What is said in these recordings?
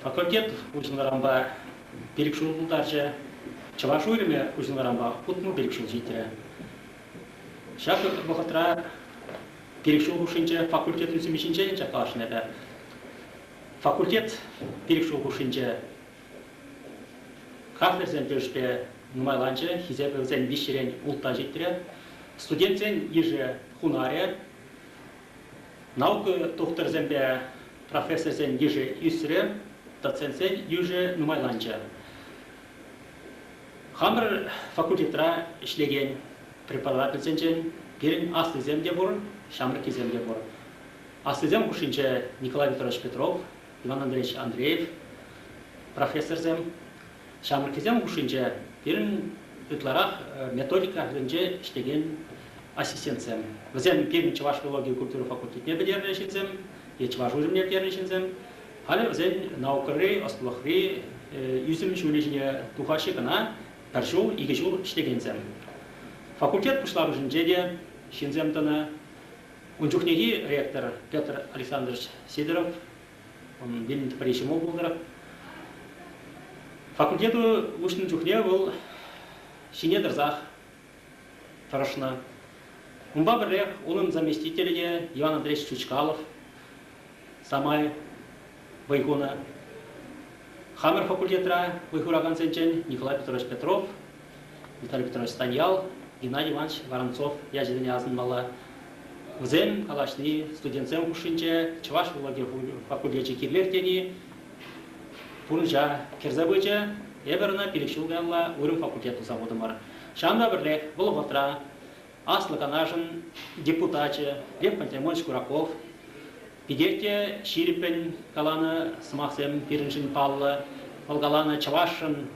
Факультет уҫӑлнӑранпа пилӗк ҫул пултарчӗ. Чӑваш уйрӑмӗ уҫӑлнӑранпа утмӑл пилӗк ҫул ҫитрӗ. Ҫак вӑхӑтра пилӗк ҫул хушшинче факультет ӳсӗмӗ ҫинчен ӗнтӗ калаҫнӑ эпӗ. Факультет пилӗк ҫул хушшинче кафедрӑсен тӗлӗшпе нумайланчӗ, хисепӗ вӗсен виҫҫӗрен ултта ҫитрӗ. Студентсен йышӗ хунарӗ Наука тухтӑрсемпе профессорсен йышӗ ӳсрӗ, доцентсен йышӗ нумайланчӗ. Хамӑр факультетра ӗҫлекен преподавательсенчен пирӗн аслисем те пур, ҫамрӑккисем те пур. Аслисем хушшинче Николай Петрович Петров, Иван Андреевич Андреев профессорсем, Ҫамрӑккисем хушшинче пирӗн ытларах методика енче ӗҫлекен ассистентсем. Вӗсем пирӗн чӑваш филологи культура факультетне пӗтернӗ ҫынсем е чӑваш уйрӑмне пӗтернӗ ҫынсем. Халӗ вӗсен наукӑри, ӑслӑлӑхри ӳсӗм ҫулӗ ҫине тухаҫҫӗ кӑна пӗр ҫул, икӗ ҫул ӗҫлекенсем. Факультет пуҫламӑшӗнче те ҫынсем тӑнӑ. Ун чухнехи ректор Петр Александрович Сидоров Унӑн вилӗм пӗри ҫӑмӑл пултӑр. Факультету уҫнӑ чухне вӑл ҫине тӑрсах тӑрӑшнӑ. Унпа пӗрлех унӑн заместителӗ те Иван Андреевич Чучкалов самай вӑй хунӑ. Хамӑр факультетра вӑй хуракансенчен Николай Петрович Петров Виталий Петрович Станьял, Геннадий Иванович Воронцов ячӗсене асӑнмалла. Вӗсем калаҫни студентсем хушшинче Чӑваш филологи факультечӗ кирлех тени пурнӑҫа кӗрсе пычӗ. Эпӗр ӑна пилӗк ҫул каялла уйрӑм факультет туса хутӑмӑр. Ҫавӑнпа пӗрлех вӑл вӑхӑтра Аслӑ Канашӑн депутачӗ Лев Пантелеймонович Кураков питех те ҫирӗппӗн каланӑ сӑмахсем пирӗншӗн паллӑ. Вӑл каланӑ чӑвашшӑн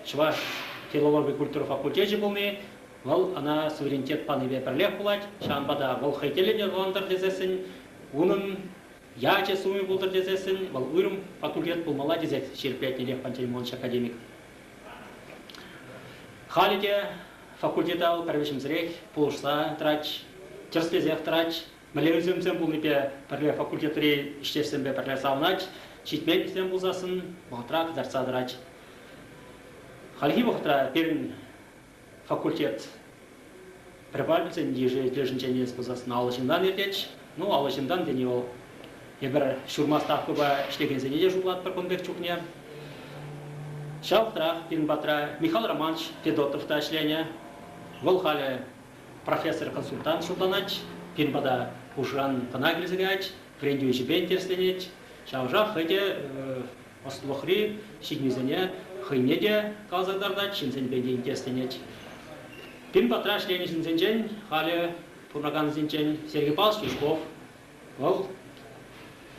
Чӑваш филологи культура факультечӗ пулни вӑл ӑна суверенитет панипе пӗрлех пулать, ҫавӑнпа та вӑл хӑй тӗллӗн йӑркалантӑр тесессӗн, унӑн ячӗ-сумӗ пултӑр тесессӗн вӑл уйрӑм факультет пулмалла тесе ҫирӗплетнӗ Пантелеймонович академик. Халӗ те факультета вӑл пӗрвӗҫӗмсӗрех пулӑшса тӑрать, тӗрӗслесех тӑрать, Мӗнле пулнипе пӗрле факультетри ӗҫтешсемпе пӗрле савӑнать, ҫитменлӗхсем пулсассӑн вӑхӑтра кӑтартса тӑрать. Хальхи вӑхӑтра пирӗн факультет препаратсен йышӗнчен илес пулсассӑн аллӑ ҫынтан иртет. Ну, аллӑ ҫынтан тени вӑл эпир ҫурма ставкӑпа ӗҫлекенсене те шутлатпӑр кун пек чухне. Ҫав вӑхӑтрах пирӗн патра Михаил Романович Федотов та ӗҫленӗ. Вӑл халӗ профессор-консультант шутланать, пирӗн пата хушӑран кӑна килсе каять, вӗрентӳ ӗҫӗпе интересленет. Ҫавӑншах хӑй те ӑслӑлӑхри ҫитӗнӳсене хӑйне те каласа кӑтартать, ҫынсенпе те интересленет. Пирӗн патра ӗҫленӗ ҫынсенчен халӗ пурӑнакансенчен Сергей Павлович Юшков. Вӑл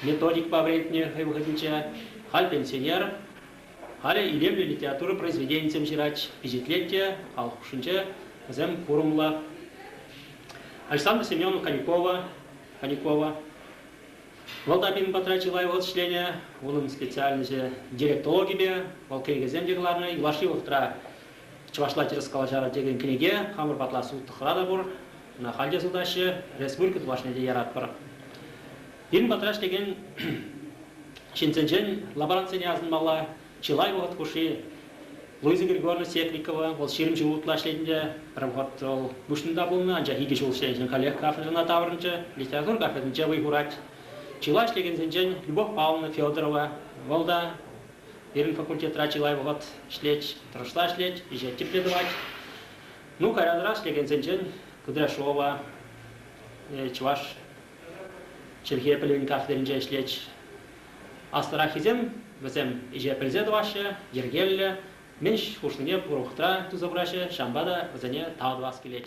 методикпа вӗрентнӗ хӑй вӑхӑтӗнче, халь пенсионер. Халӗ илемлӗ литература произведенийӗсем ҫырать, пичетлет те, халӑх хушшинче вӗсем курӑмлӑ. Александра Семеновна Конюкова, Конюкова вӑл та пирӗн патра чылай вӑхӑт ӗҫленӗ. Унӑн специальноҫӗ директологипе, вӑл кӗнекесем те кӑларнӑ. Юлашки вӑхӑтра чӑвашла тӗрӗс калаҫар текен кӗнеке хамӑр патла сутнӑ хӑра та пур. Ӑна халь те сутаҫҫӗ. Республика тулашне те яратпӑр. Пирӗн патра ӗҫлекен ҫынсенчен лаборантсене асӑнмалла. Чылай вӑхӑт хушши Луиза Григорьевна Секрикова, вӑл ҫирӗм ҫул утла ӗҫлетӗн те, пӗр вӑхӑт вӑл Пуҫлӑмта пулнӑ, анчах икӗ ҫул ӗҫленӗшӗн каллех кафедрӑна таврӑнчӗ, литература кафедринче вӑй хурать. Чылай ӗҫлекенсенчен Любовь Павловна Федорова, вӑл та пирӗн факультетра чылай вӑхӑт ӗҫлет, тӑрӑшса ӗҫлет, ӗҫе тӗплӗ тӑвать. Ну, каярах ӗҫлекенсенчен Кудряшова, чӑваш чӗлхе пӗлӗвӗн кафедринче ӗҫлет. Аслӑраххисем вӗсем ӗҫе пӗлсе тӑваҫҫӗ, йӗркеллӗ, мӗн хушнине пурлӑхра туса пыраҫҫӗ, ҫавӑнпа та вӗсене тав тӑвас килет.